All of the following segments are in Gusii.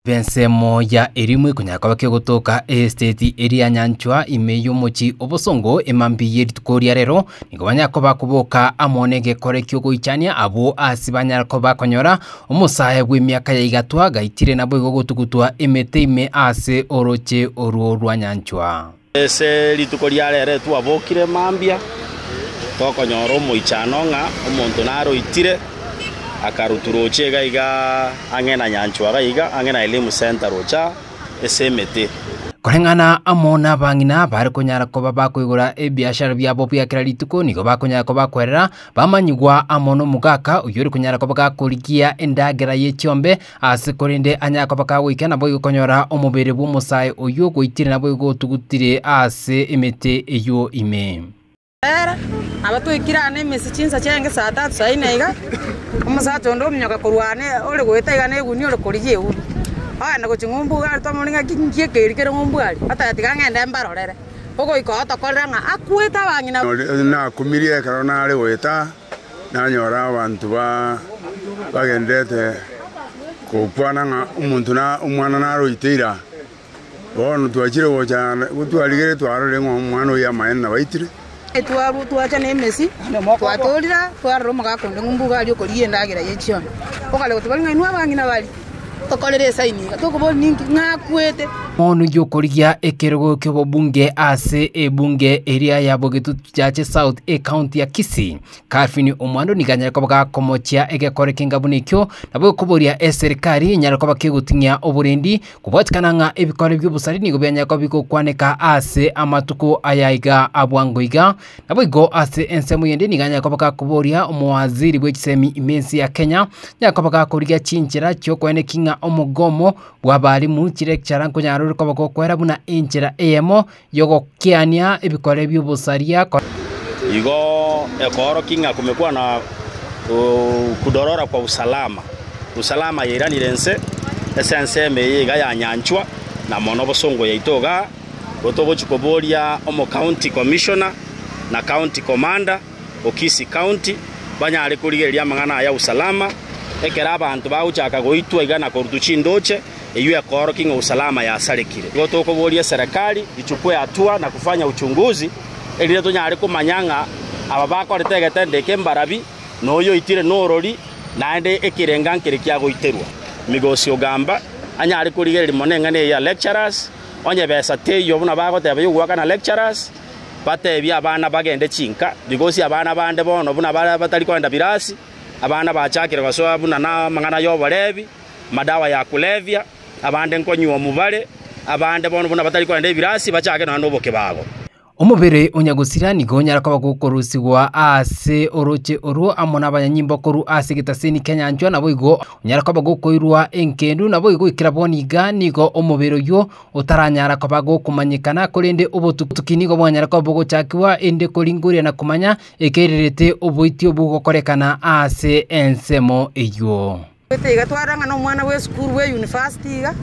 Ensemo ya Elimu ekonyara koba kegotoka eesiteti eria nyanchwa ime y'omochi obosongo emambi y'erituko ria rero. Nigo banyara koba koboka amo n'egekore ki'ogoichania abwo ase banyara koba bakonyora omosae bw'emiaka ya igatwa gaitire naboigo gotugutwa emete ime ase oroche orwo rwa nyanchwa. Ase rituko ria rere twabokire mambia, tokonyora omoichano ng'a omonto naroitire, akarutu roche iga iga ang'e na nyanchwa iga iga ang'e na Elimu Center roche ase emete. Koreng'ana amo n'abang'ina abare konyara koba bakoigora ebiashara biabo bia kera rituko nigo bakonyara koba bakwerera bamanyigwa amo nomogaka oyore konyara koba gakorigia endagera ye chiombe Ase korende anyare koba kagoika naboigo konyora omobere bw'omosae oyio ogweitirie naboigo otugutire ase emete eyio ime. Ere, nabo toikire aane ime ase chinsacha enge saa tatu saa ine iga, omosacha onde omonyoka korwa aane ore goeta iga negunia ore korigia egunia, ogenda gochia ng'umbu iga arete omorwoti ng'a nki ekeiri kere ng'umbu aria, oteba tiga ng'ende mbarorere, ogoika otokorera ng'a akwete abang'ina. Nakumirie ekero nare goeta. nanyora abanto bagendererete gokwana ng'a omonto na omwana naroite ira. Bono twachire gocha twarigere twarorire ng'a omwana oyio amaene nabaitire. Twacha nemesi, twatoorire twarora omogaka onde ng'umbu iga aria okoria endagera ye chioni. Okare goteba, Ng'ai inwe abang'ina baria? Tokorere esaini iga, tokoboria ninki ng'akwete. Omonugi okorigia ekerogo ki'obobunge ase ebunge eria ya Bogetutu Chache South ecounty ya Kisii, Calvin Omwando nigo anyare koba gakomochia egekore kenga buna ekio, nabo okoboria eserikari enyare koba kegoting'ia oborendi, kobwatikana ng'a ebikore bi'obosari nigo bianyare koba bigokwaneka ase amatuko aya iga a bwango iga, Naboigo ase ensemo eyende nigo anyakoba gakoboria omowaziri bwe chisemi ime ense ya Kenya, nyakoba gakorigia chinchera chiokoeneki ng'a omogomo bw'abalimu, chilecturer, nkonyara ore koba gokwera buna enchera eyemo yogokiania ebikore bi'obosaria, Igo ekoorokia ng'a kumekwana kudorora kwa usalama, usalama yairanire ense ase ensemo eye iga yanyanchwa, na mono bosongo yaito iga. Igo togochia koboria omocounty commissioner na county commander o Kisii County banyare korigereria amang'ana aya usalama, ekero abanto bagochaka goitwa iga na korutwa chindoche, eyio ekoorokia ng'a usalama yasarekire. Igo tokoboria eserekari ichukwe hatua na kufanya uchunguzi, erinde tonyare komanya ng'a aba bakorete egetendo eke mbarabi, na oyo oitire norori, naende ekerenga nkere kiagoiterwa. Migosi ogamba anyare korigereria mono eng'ana eye ya lecturers, Onye besa teiyo buna bagoteba yogoakana lecturers, batebie abana bagende chinka, because abana bande bono buna baria batari kogenda birasi, abana bachakire gosoa buna namang'ana yoborebi, madawa ya kulevya, abande nkonywa omubare, abande bono buna batari kogenda ebirasi bachake nonya nobokebago. Omobere onya gosira nigo onyare koba gokorusigwa ase orooche orwo amo nabanyanyimbo korwa ase egetaseni kianyanchwa, naboigo onyare koba gokoirwa engendu, naboigo goikera bono iga nigo omobere oywo otaranyara koba gokomanyekana, korende obotuki nigo bwanyare koba bogochakigwa, erinde koringoria na komanya ekerirerete oboiti obwo gokorekana ase ensemo eywo. Goita iga twarora ng'a nomwana bw'esukuru bwe university iga,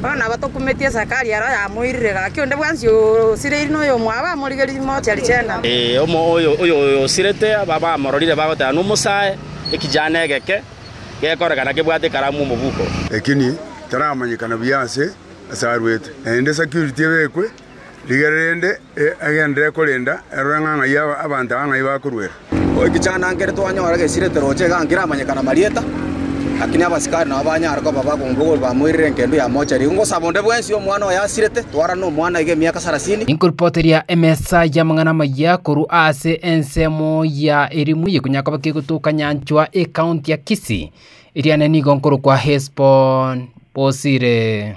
bono nabo tokumeti esakari ero yamoirire gaki onde bwensi osireiri na oyomwabo amorigerie moche richenda. Oyosirete bamororire bagoteba nomosae, ekijana egeke gekorekana kebwate ekaramu omobuko. Lakini taramanyekana buya ase asarwete, naende security ebekwe rigere rende. Egenderere korenda, erore ng'a ng'ai abanto aba ng'ai bakoruera. Goikichana nkere twanyora gesirete roche iga nkiramanyekana marieta, lakini abasikari nabo banyare koba bagombogori bamoirere engendu ya mochari. Igo ngosaba onde bwensi omwana oyo asirete twarane nomwana iga emiaka sarasini, Inkoripoteria emesa y'amang'ana amaya korwa ase ensemo ya Elimu yekonyara koba kegotoka nyanchwa Ekaunti ya Kisii, eriane nigo nkorokwa Hesbon Bosire.